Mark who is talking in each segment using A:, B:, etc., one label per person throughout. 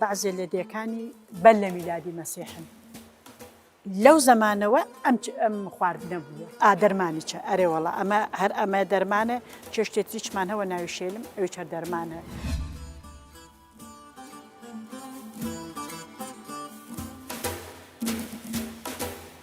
A: Bazê lêdêkanî belle mîladî Mesîh in. Lew zemane we em em xwardine bûye. A dermanî çi? Erê wala eme her eme derman e. Çeştê tî çiman hewe navê şêlim ewî çar derman e.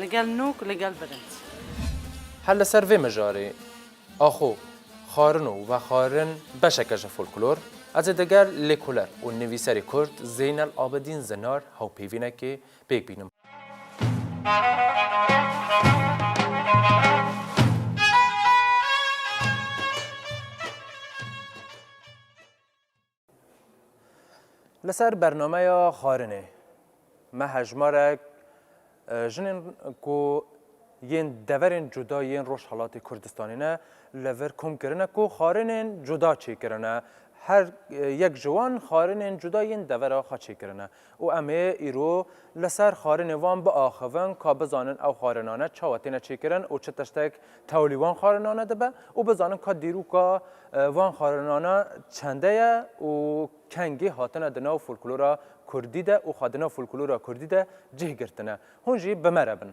A: Li gel nok, li gel bilind. Her li ser vê mijarê axo, xarino û vexarin beşeke ji folklor, ez ê digel lêkoler û nivîserê kurd Zeynel Abedîn Zinar hawpêvînekê pêk bînim. Li ser bernameya xwarinê me hejmarek jinên ku yên deverên cuda yên Rojhelatê Kurdistanê ne li vir kom kirine ku xwarinên cuda çêkirine. Her yek ji wan xwarinên cuda yên devera xwe çêkirine. Û em ê îro li ser xwarinê wan biaxivin ka bizanin ew xwarinane çawa têne çêkirin û çi tiştek tewlî wan xwarinane dibe û bizanin ka dîrûka van xwarinane çende ye û kengî hatine di nav folklora kurdî de û xwe di nav folklora kurdî de cih girtine. Hûn jî bi me re bin.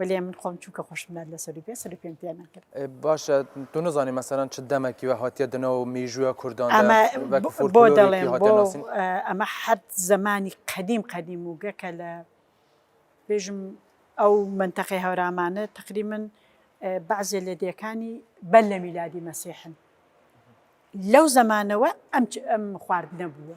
A: Welê min xom çûke xweş min elle serî bê, serî pêm têne kir. Baş e, tu nizanî mesela çi demekî we hatiye di nav mîjûya Kurdan de Eme wek bo folklorêkî delên hatiye bo nasîn. eh, eme her zemanî qedîm qedîm û gekele bêjim ew menteqê hewramane teqrîmen eh, bazê ledekanî belle mîladî mesîh in. Lew zemane we em çi- em xwardine bûye.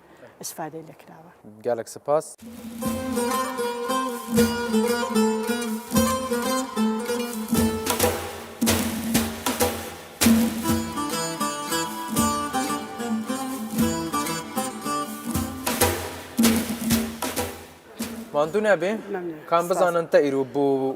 A: istifadeyê lê kirawe. Gelek sipas. Mandune bê. Kan bizanin te îro bû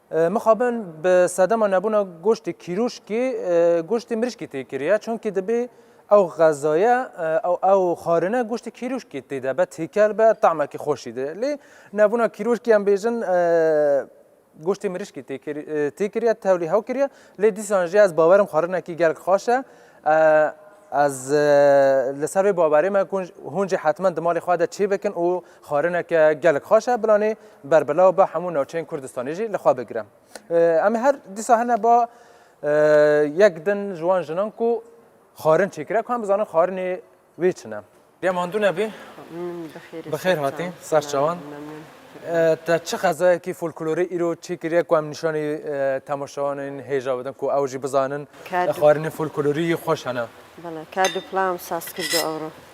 A: Mixabin bi sedema nebûna goştê kîrûşkê goştê mirîşkê tê kiriye çunkî dibê ew xezaye ew ew xarine goştê kîrûşkê tê de be têkel be temekî xweşî dide. Lê nebûna kîrûşkê em bêjin goştê mirîşkê tê kir tê kiriye tevlî hew kiriye lê dîsan jî ez bawerim xarinekî gelek xweş e. Ez li ser vê bawerê me ku hûn jî hetmen di malê xwe de çêbikin û Xwarineke gelek xweş e bilanê berbelaw be hemû navçeyên Kurdistanê jî li xwe bigire. Em ê her dîsa hene ba yek din ji wan jinan ku xwarin çêkire ku em bizanin xwarinê wê çi ne. Dê mandu nebî. Bi xêr hatî ser çawan. Te çi xezayekî folklorî îro çêkiriye ku em nîşanî temaşewanên hêja bidin ku ew jî bizanin xwarinên folklorî xweş hene? Bele, kerdû plan saz kirdû ewro.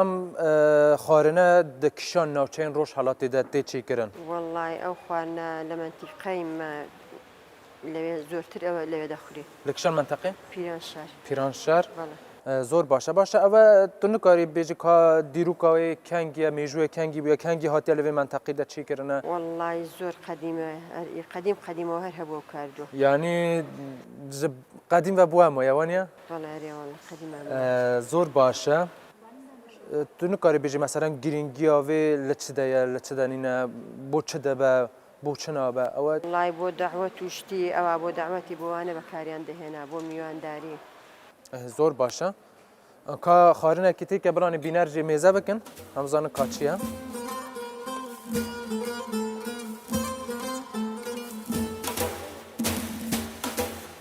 A: Em xwarine di kişan navçeyên Rojhelatê de tê çêkirin. Wellay ew xwarine li mentîqeyên me lewê zortir ew lewê de xurî. Li kişan menteqê? Pîranşar. Pîranşar. Bele. Zor baş e. Baş e ew e tu nikarî bêjî ka dîroka wê kengî ye, mêjûyê kengî bûye, kengî hatiye li vê menteqê de çêkirine? Wellay zor qedîm e. Qedîm qedîm û her hebû ew kar do. Yanî ji qedîm ve bû hema ye waniye? Zor baş e. Tu nikarî bêjî meselen girîngiya vê li çi de ye, li çi de nîne, bo çi dibe, bo çi nabe. Ew e. Lay bo dawet û şitî ewa bo dawetî bo wane bekariyan dihêne, bo mîwandarî. Zor baş e. Ka xwarinekî têke biranî bîner jê mêze bikin. Em zanin ka çi ye.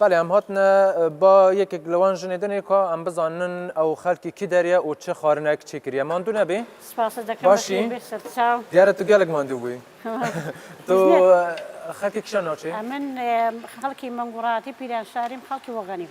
A: Belê em hatine ba yekek li wan jinê dinê ka em bizanin ew xelkî kî deriye û çi xarinek çê kiriye. Mandû nebî? Spasa dekim Başî? bixîr bixir. Sağ ol. Diyare tu gelek mandû bûyî. Tu xelkê kişan naçê? Em min xelkî Mengûratî, Pîranşarîm, xelkî Waganîm.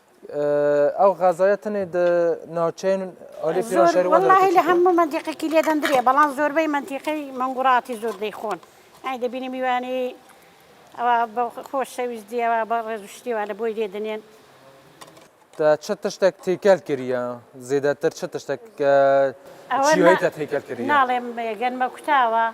A: Ew xezaya tenê di navçeyên alî Pîranşerê wan de derket. Wellahî li hemû mentîqekî lê dendir ye belan zorbeyî mentîqeyî Manguratî zor deyxwin. Yanî dibînim yanî ewa bi xoşewîstî ewa bi rêzuştî ewa li boy dê dinên. Te çi tiştek têkel kiriye? Zêdetir çi tiştek çîyayî te têkel kiriye? Nalêm gen me kuta ewa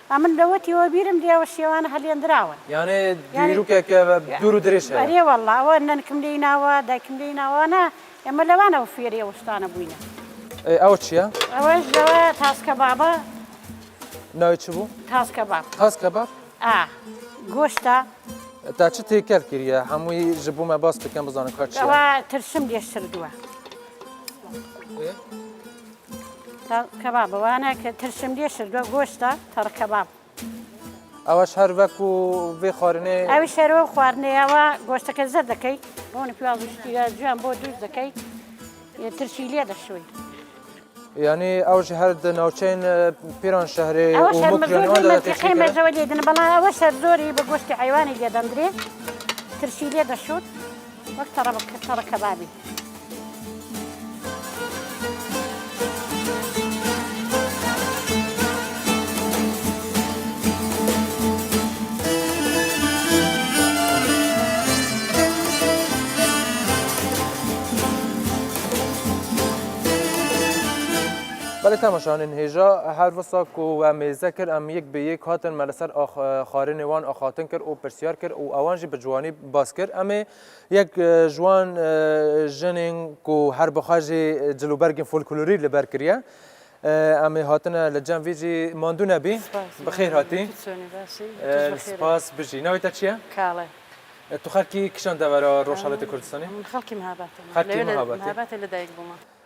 A: A min lewetî we bîr im dê ew şêwan heliyendiraw in. Yanê dîrûkeke ve dûr û dirêj heye. Erê walla ew nenkim lê îna we, daykim lê îna we ne. Em li wan ew fêrê ew şitane bûyne. Ê ew çi ye? Ew ji ew e tas kebab e. Navê çi bû? Tas kebab. Tas kebab? A. Goşt e. Te çi têkel kiriye? Hemû yî ji bo me bas bikin bizanin ka çi ye. Ew tirşim lê şirdiwe. Ê. Ta kebab e. Wane ki tirşimliyê şirdo goşt e, tar kebab. Ew şer wekû vê xwarinê. Ew şer wekû xwarinê ye. Wa goşteke zir dikey. Ronî piyaz û ştîya ciwan bo dûz dikey. Yê tirşîliyê dişûy. Yanî ew ji her di navçeyên Pîranşehrê û Mûkriyê wan de têkilî kirin. Ew lê din bela ew şer zorî bi goştê heywanê lê dendrê. Tirşîliyê dişûn. Wek tara kebabê. Belê temaşevanên hêja her visa ku we mêze kir em yek bi yek hatin me li ser xwarinê wan axaftin kir û pirsyar kir û ewan jî bi ciwanî bas kir. Em ê Yek ji wan jinên ku her bi xwe jî cil û bergên folklorî li ber kiriye. Em ê hatine li cem vî jî mandû nebî. Bi xêr hatî. Spas bijî. Navê te çi ye? Kale. Tu xelkî kişan devera Rojhelatê Kurdistanê? Min xelkî Mihabatê me. Xelkî Mihabatê. Li Mihabatê li dayik bûme.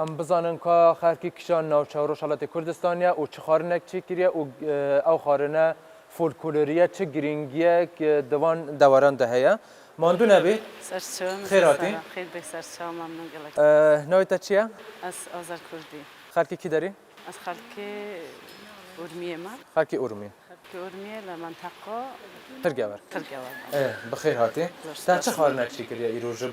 A: Em bizanin ka xelkî kişan navçe Rojhelatê Kurdistanê û çi xarinek çêkiriye û ew xarine folkoloriye çi girîngiyek di van deweran de heye. Mandu nebî. Ser çim. Xêr hatî. Xêr bê ser çawa memnûn gelek. Navê te çi ye? Ez Azer Kurdî. Xelkê kî derîn? Ez xelkê Urmiyê me. Xelkê Urmiyê. Xelkê Urmiyê li menteqa. Qirgever. Qirgever. Ê, bi xêr hatî. Te çi xwarinekî kiriye îro ji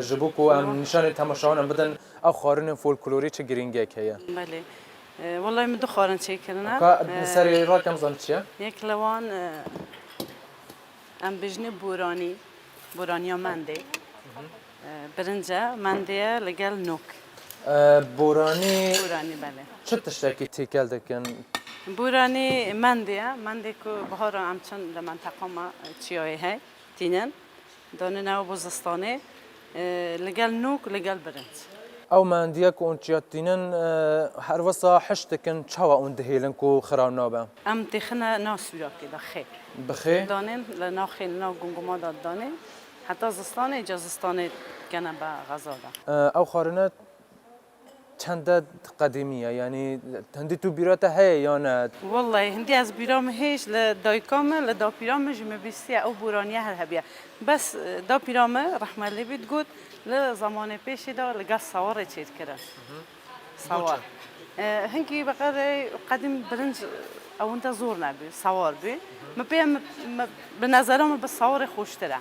A: ji bo ku em nîşanî temaşewanan bidin ew xwarinên folklorî çi girîngiyek heye? Belê. Wellahî min du xwarin çê kirine. Ka li serê ra kem zanî çi ye? Yek li wan em bijînê boranî, boraniya mendê. Birince mendiye li gel nok. Boranî çi tiştekî têkel dikin? Boranî mendiye. Mendê ku biharan em çin li menteqa me çiyayê hey tînin. Danê nava bo zistanê li gel nok li gel birinc. Ew mendiye ku hûn çiya tînin her wisa hişt dikin çawa hûn dihêlin ku xira nabe? Em têxine nav sûlakê de xê. Bi xê? Danê li nav xê li nav gumguma de danê. Heta zistanê ca zistanê dikene be xeza de. Ew xwarine çende qedîmî ye yanî hindî tu bîra te heye ya ne? Wellahî hindî ez bîra min heye ji li dayika min li dapîra min ji min bîstiye ew boraniye her hebîye bes dapîra min rehme lê bî digot li zemanê pêşê de li gel sawarê çêdikirin. Sawar. Hinkî beqerê qedîm birinc ewinda zor nebî, sawar bî. Min pê bi nezera min bi sawarê xweştir e.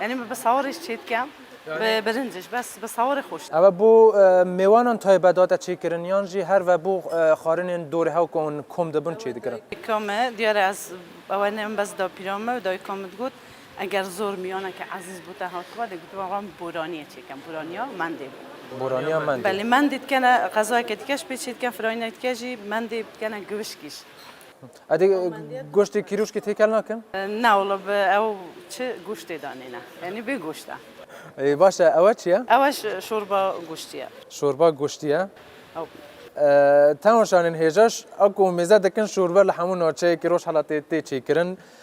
A: Yanî min bi sawarê ji çê dikem, bi birinc ji bes bi sawarê xweştir e. Ew ê bo mêwanan taybetdar e çêkirin yan jî her ve bo xwarinên dorê hew ku hûn kom dibin çêdikirin? Dayika me, diyar e ez ew ne min bes dapîra me û dayika min digot, Eger zor miyaneke ezîz bû te hatiba dê gotiba van bi boraniyê çêken, boraniya mendê bû. Boraniya mendê. Belê mendê dikene qezayeke dike ji pê çêdiken firayînayê dike jî mendê dikene giwişkî jî. Ew dê goştê kîrûşkê têkel nakin? Na wala bi ew çi goştê danêne. Yanî bê goşt e. Ê baş e ew çi ye? Ew şorba goştî ye. Şorba goştî ye. Ew. Tewa şanên hêja ji a ku mêze dikin şorbe li hemû navçeyeke Rojhelatê tê çêkirin.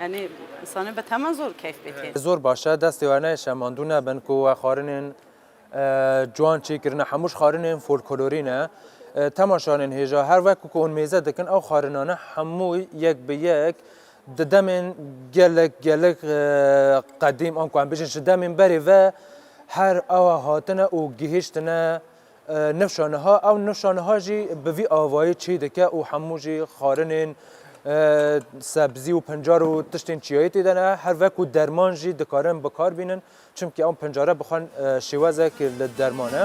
A: Yanî insanê bi temen zor keyf bikê. Zor baş e destê we ne şemandu nebin ku we xarinên ciwan çê kirine hemû ji xarinên folkolorî ne. Temaşanên hêja her wek ku hûn mêze dikin ew xarinane hemû yek bi yek di demên gelek gelek qedîm an ku em bijin ji demên berê ve her awa hatine û gihiştine Nifşa niha ew nifşa niha jî bi vî avayî çî dike û hemû jî xarinên sebzî û pincar û tiştên çiyayî tê de ne her ve ku derman jî dikarin bikar bînin çimkî ew pincare bi xwe şêwezek li derman e.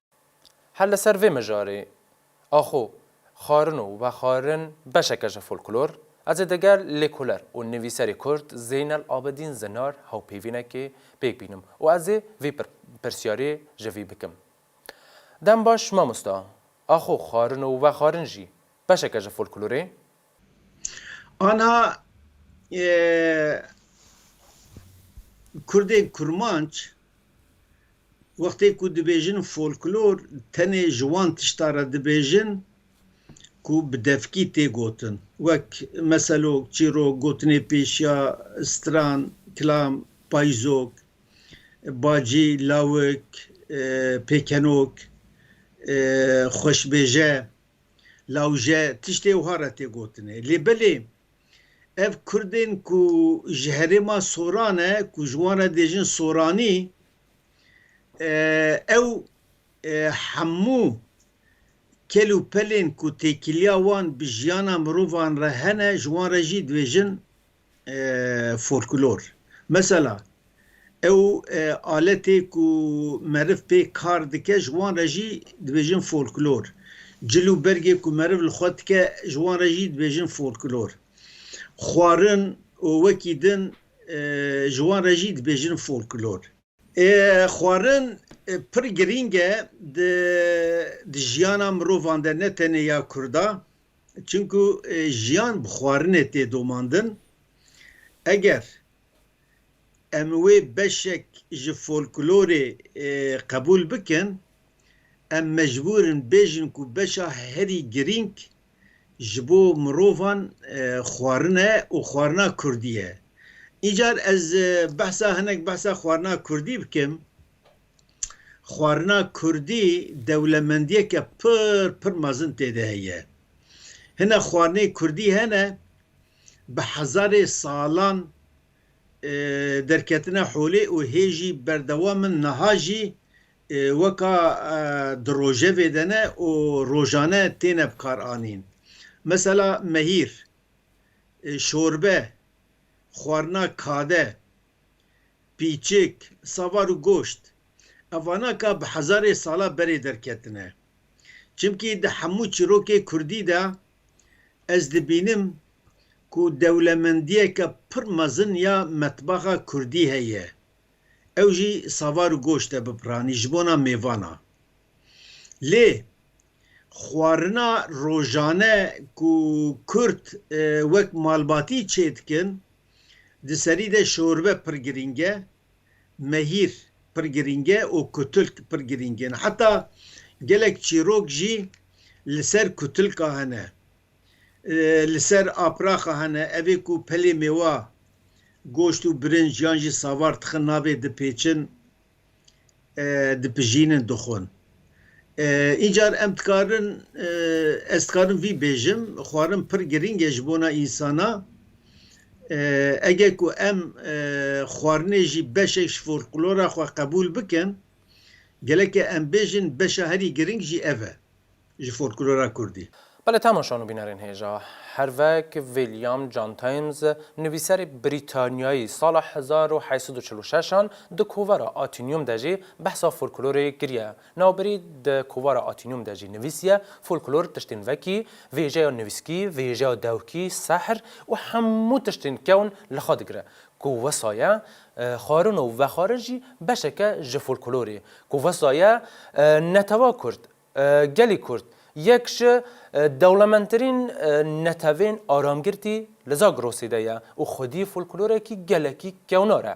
A: Her li ser vê mijarê, axo, xwarin û vexwarin beşeke ji folklor, ez ê digel lêkoler û nivîserê Kurd Zeynel Abedîn Zinar hawpêvînekê pêk bînim û ez ê vê pirsiyarê ji vî bikim. Dem baş mamosta, axo, xwarin û vexwarin jî beşeke ji folklorê? Anha Kurdên kurmanc wextê ku dibêjin folklor tenê ji wan tişta re dibêjin ku bi devkî tê gotin wek meselok, çîrok, gotinê pêşiya, stran, kilam, payizok, bacî, lawik, pêkenok, xweşbêje. Lawje tiştê wiha re tê gotinê. Lê belê ev Kurdên ku ji herêma Soran e ku ji wan re dêjin Soranî ew hemû kel û pelên ku têkiliya wan bi jiyana mirovan re hene ji wan re jî dibêjin folklor. Mesela ew aletê ku meriv pê kar dike ji wan re jî dibêjin folklor. Cil û bergê ku meriv li xwe dike ji wan re jî dibêjin folklor. Xwarin û wekî din ji wan re jî dibêjin folklor. Xwarin pir girîng e di jiyana mirovan de ne tenê ya Kurdan çimkû jiyan bi xwarinê tê domandin. Eger em wê beşek ji folklorê qebûl bikin em mecbûr in bêjin ku beşa herî girîng ji bo mirovan xwarin e û xwarina kurdî ye. Îcar ez behsa hinek behsa xwarina kurdî bikim. Xwarina kurdî dewlemendiyeke pir pir mezin tê de heye. Hinek xwarinê kurdî hene bi hezarê salan derketine holê û hê jî berdewam in niha jî weka di rojevê de ne û rojane têne bikaranîn. Mesela mehîr, şorbe, xwarina kade, pîçik, savar û goşt. Evana ka bi hezarê sala berê derketine. Çimkî di hemû çîrokê kurdî de ez dibînim ku dewlemendiyeke pir mezin ya metbaxa kurdî heye. ew jî savar û goşt e bipiranî ji bona mêvan a. Lê xwarina rojane ku kurd wek malbatî çê dikin, di serî de şorbe pir girîng e, mehîr pir girîng e û kutilk pir girîng in. Heta gelek çîrok jî li ser kutilka hene. Li ser apraxa hene evê ku pelê mêwa, goşt û birinc yan jî savar tixin navê dipêçin, dipijînin, dixwin. Încar em dikarin, ez dikarim vî bêjim, xwarin pir girîng e ji bona însana. Eger ku em xwarinê jî beşek ji folklora xwe qebûl bikin, gelek e em bêjin beşa herî girîng jî ev e. ji folklora kurdî. Belê temaşan û bînerên hêja hervek William John Thames, nivîserê Brîtanyayî sala hezar û heşt sed û çil û şeş an di kovara Atinium de jî behsa folklorê kiriye. Navberî di kovara Atinium de jî nivîsiye, Folklor tiştên vekî, vêjeya nivîskî, vêjeya dewkî, sehr û hemû tiştên kewn li xwe digire ku wisa ye Xwarin û vexwarin jî beşeke ji folklorê ku wisa ye netewa kurd, gelî kurd yek ji dewlemendtirîn netewên aramgirtî li Zagrosê de ye û xwedî folklorekî gelekî kewnar e.